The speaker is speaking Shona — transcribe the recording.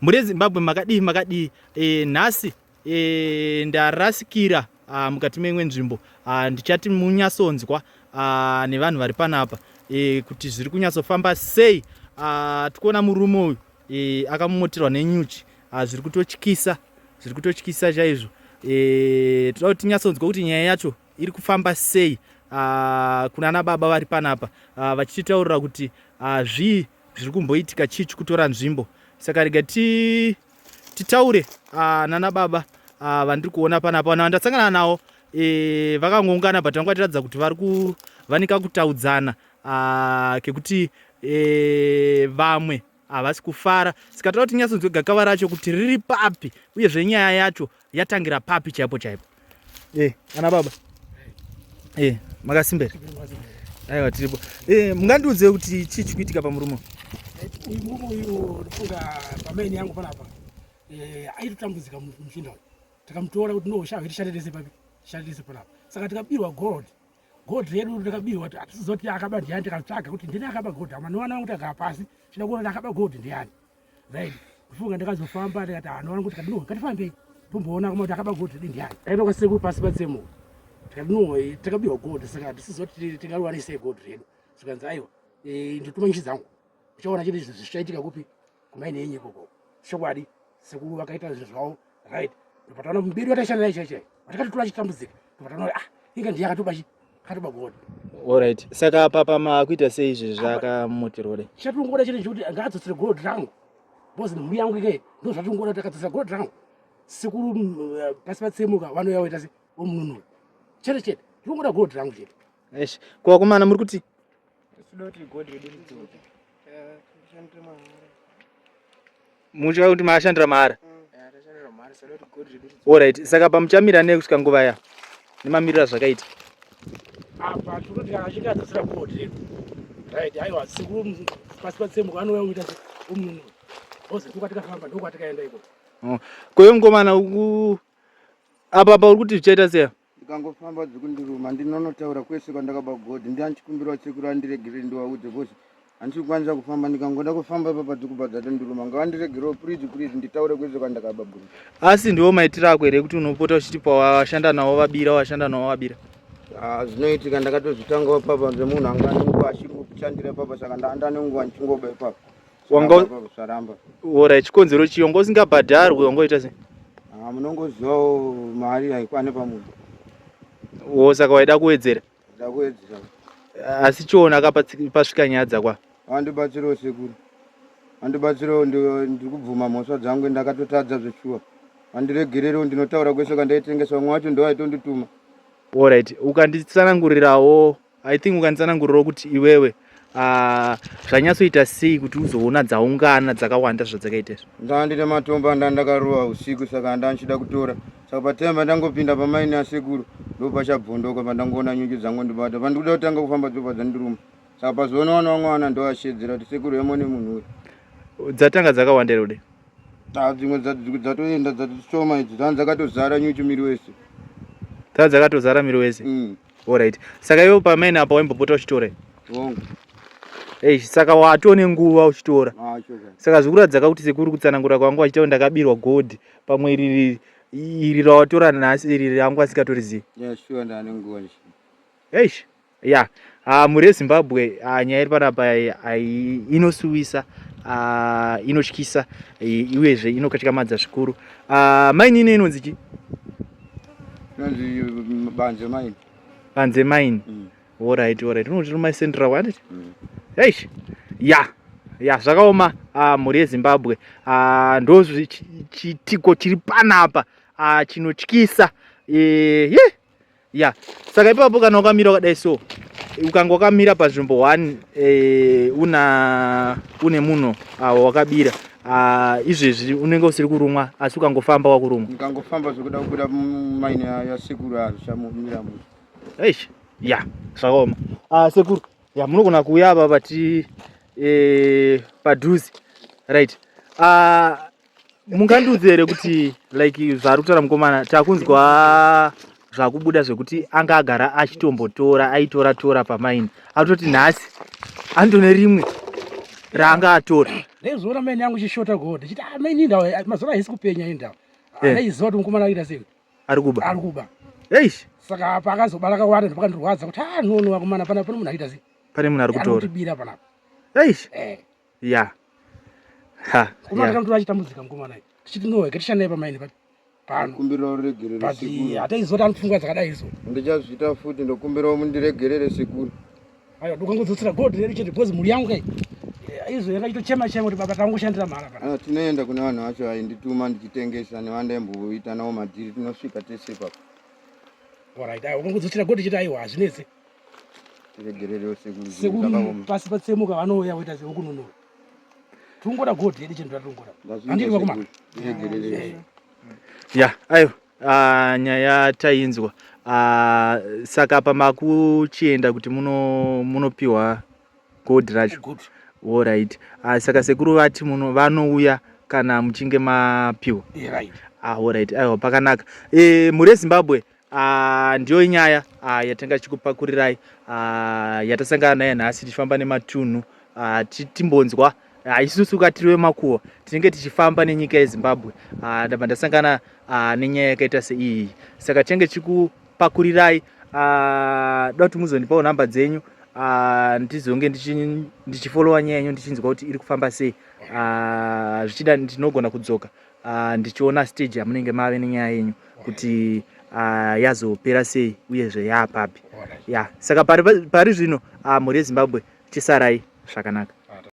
Muri Zimbabwe makadii makadii e, nhasi e, ndarasikira ah, mukati meimwe nzvimbo ah, ndichati munyasonzwa ah, nevanhu vari panapa e, kuti zviri kunyatsofamba sei ah, tikuona murume uyu e, akamomoterwa nenyuchi ah, zviri kutotyisa zviri kutotyisa chaizvo e, toda kuti tinyatsonzwa kuti nyaya yacho iri kufamba sei uh, kuna ana baba vari panapa uh, vachititaurira kuti uh, zvii zviri kumboitika chii chikutora nzvimbo saka rega ti, titaure uh, nana baba uh, vandiri kuona panapa vanhu vandasangana nawo e, vakangoungana but vanga vatiratidza kuti vari kuvanika kutaudzana uh, kekuti e, vamwe havasi kufara saka toda kuti tinyatsonzwe gakava racho kuti riri papi uyezve nyaya yacho yatangira papi chaipo chaipo e eh, ana baba e eh, makasimbera aiwa tiripo e eh, mungandiudze kuti chii chikuitika pamurume uyu murume uyu ndifunga pamaini yangu panapa aitotambudzika muchinda uyu takamutora kuti nohosha hwe tishandetese papi tishandetese panapa saka tikabirwa gold gold redu ndakabirwa hatisiziva kuti akaba ndiani tikatsvaga kuti ndini akaba gold hama nowana vangu tagara pasi chida kuona akaba gold ndiani right kufunga ndakazofamba ndikati hano vangu kuti kadinowe katifambei tomboona kuma kuti akaba gold redi ndiani aiva kwasekuru pasi patsemo tikadinowe takabirwa gold saka hatisiziva kuti tingariwanisei gold redu zikanzi aiwa eh, ndituma nchi dzangu uchaona chete zvichaitika kupi kumai nenye koko chokwadi sekuru vakaita zvinhu zvavo right ndopataona mberi vataishanda naye chaichai vatakatotora chitambudzika ndopataona kuti ah inga ndiye akatoba chi akatoba god orit saka papa maakuita sei izvi zvakamutirore chatongoda chete chekuti ngaadzosere gold rangu bcause mhuri yangu ike ndo zvatongoda kuti akadzosera gold rangu sekuru mm, eh, pasi patsemuka vanouya voita se vomununura chete chete tongoda gold rangu chete esh kuvakomana muri kuti muchava kuti maashandira mahara orit mm. saka pamuchamira nei kusvika nguva ya nemamirira zvakaita apa tinoti achiti adzasira bodi right aiwa sekuru pasi patsembo anouya kuita umunhu ozi ndokwatikafamba ndokwatikaenda iko oh. koyo ngomana apa apa uri kuti zvichaita seya ndikangofamba dzikundiruma ndinonotaura kwese kwandakaba godhi ndiani chikumbiro wasekuru andiregerere ndiwaudze bcause handisi kukwanisa kufamba ndikangoda kufamba ipapa dzikuba dzatondiruma ngavandiregerewo purizi purizi nditaure kwese kwandakaba godhi asi ndiwo maitiro ako here kuti unopota uchiti pawashanda nawo vabira washanda nawo vabira ah, zvinoitika ndakatozvitangawo papa zvemunhu anga anenguva achiri kushandira ipapa saka ndaanda nenguva ndichingoba ipapa wanga zvaramba ora chikonzero chiyo wanga usingabhadharwi wanga uita sei ah, munongozivawo mari haikwane pamunhu wo saka waida kuwedzera da kuwedzera asi chiona ka pasvika nyaya dzakwa vandibatsirawo sekuru vandibatsirawo ndiri kubvuma mhosva dzangu ndakatotadza zveshuwa vandiregererewo ndinotaura kwese kwandaitengesa vamwe wacho ndovaitondituma orit ukanditsanangurirawo I think ukanditsanangurirawo kuti iwewe ah, zvanyatsoita sei kuti uzoona dzaungana dzakawanda zvadzakaita izvi ndaa ndine matombo andaa ndakarowa usiku saka handaa ndichida kutora saka pataiva pandangopinda pamaini asekuru ndopachabvondoka pandangoona nyuchi dzangondibata pandikuda kutanga kufamba dzobva dzandiruma saka pazoona wana wamwe wana ndoashedzera kuti sekuru emone munhu uyu dzatanga dzakawanda here ude taa dzimwe dza- dzimwe dzatoenda dzatishoma idzi dzanga dzakatozara nyuchi miri wese dza dzakatozara miri wese Mm. Alright. Saka iwe pamene apa waimbopota uchitora here? Hongu. Hey, saka watone nguva uchitora. Ah, saka zvikuratidza kuti sekuru kutsanangura kwangu achitawo ndakabirwa gold pamwe iri iri rawatora nhasi iri rangu asikatorizivi. Yeah, sure ndane nguva. Eish. Yeah. Uh, mhuri yezimbabwe uh, nyaya iri panapa uh, inosuwisa uh, inotyisa uh, uyezve inokatyamadza zvikuru uh, mainini inonzi chii Banze mine. Banze mine. Mm. All right, all right. Unoti ruma central what? Mm. Hey. Yeah. ya zvakaoma ah, mhuri yezimbabwe ah, ndo chitiko chiri panapa ah, chinotyisa eh, ya saka ipapo kana ukamira wakadai so ukanga wakamira panzvimbo one eh, una une munhu wakabira Ah, izvezvi unenge usiri kurumwa asi ukangofamba wakurumwa ndikangofamba zvekuda kubuda maine yasekuru azvichamumira mu eish ya zvakaoma Ah, sekuru ya munogona kuuya apa pati eh, padhuze right Ah, mungandiudze here kuti like zvaari kutaura mukomana takunzwa zvakubuda zvekuti anga agara achitombotora aitora tora pamaini atoti nhasi andone rimwe raanga atora ndaizoona maini yangu chishota god chiti ah, maini indawa eh, mazora haisi kupenya indawa eh. ndaiziva kuti mukomana akuita sei ari kuba ari kuba eish saka apa akazobara kawanda ndopakandorwadza kuti ah nono vakomana pana pane munhu akuita sei pane munhu ari kutora bira panapa eish eh. ya ha kuma yeah. ndakamutora achitambudzika mukomana tichiti nowe katishandei pamaini papi pano kumbirawo ruregerero but sekuru hataizoti anopfungwa dzakadai izo ndichazviita futi ndokumbirawo mundiregerere sekuru aiwa ndokangodzotsera gold redu chete because mhuri yangu kai izvo yakaitochema chema kuti baba tangoshandira mhara pa ah, tinoenda kune vanhu vacho aindituma ndichitengesa nevandaimboita nawo madhiri tinosvika tese papa orit aiwa ukangodzotsera gold chete aiwa hazvinetse regererewo sekuru sekuru pasi patsemuka vanouya voita zveokununura tungora gold yedu chinhu tatungora handiri vakomana ya ayo ah, nyaya tainzwa ah, saka apa makuchienda kuti munopiwa gold racho orit ah, saka sekuru vati muno vanouya kana muchinge mapiwa orit aiwa pakanaka eh, mhuri yezimbabwe Ah, ndiyo inyaya ah, yatanga tichikupakurirai ah, yatasangana nayo nhasi tichifamba nematunhu ah, timbonzwa ah, isusu katiri vemakuwo tinenge tichifamba nenyika yezimbabwe ah, ndabva ndasangana ah, nenyaya yakaita seiyi saka tinenge tichikupakurirai ah, da kuti muzondipawo nhamba dzenyu ah, ndizonge ndichifolowa nyaya yenyu ndichinzwa kuti iri kufamba sei ah, zvichida ndinogona kudzoka uh, ndichiona stage yamunenge mave nenyaya yenyu kuti uh, yazopera sei uyezve yaapapi ya yeah. saka pari, pari zvino uh, mhuri yezimbabwe chisarai zvakanaka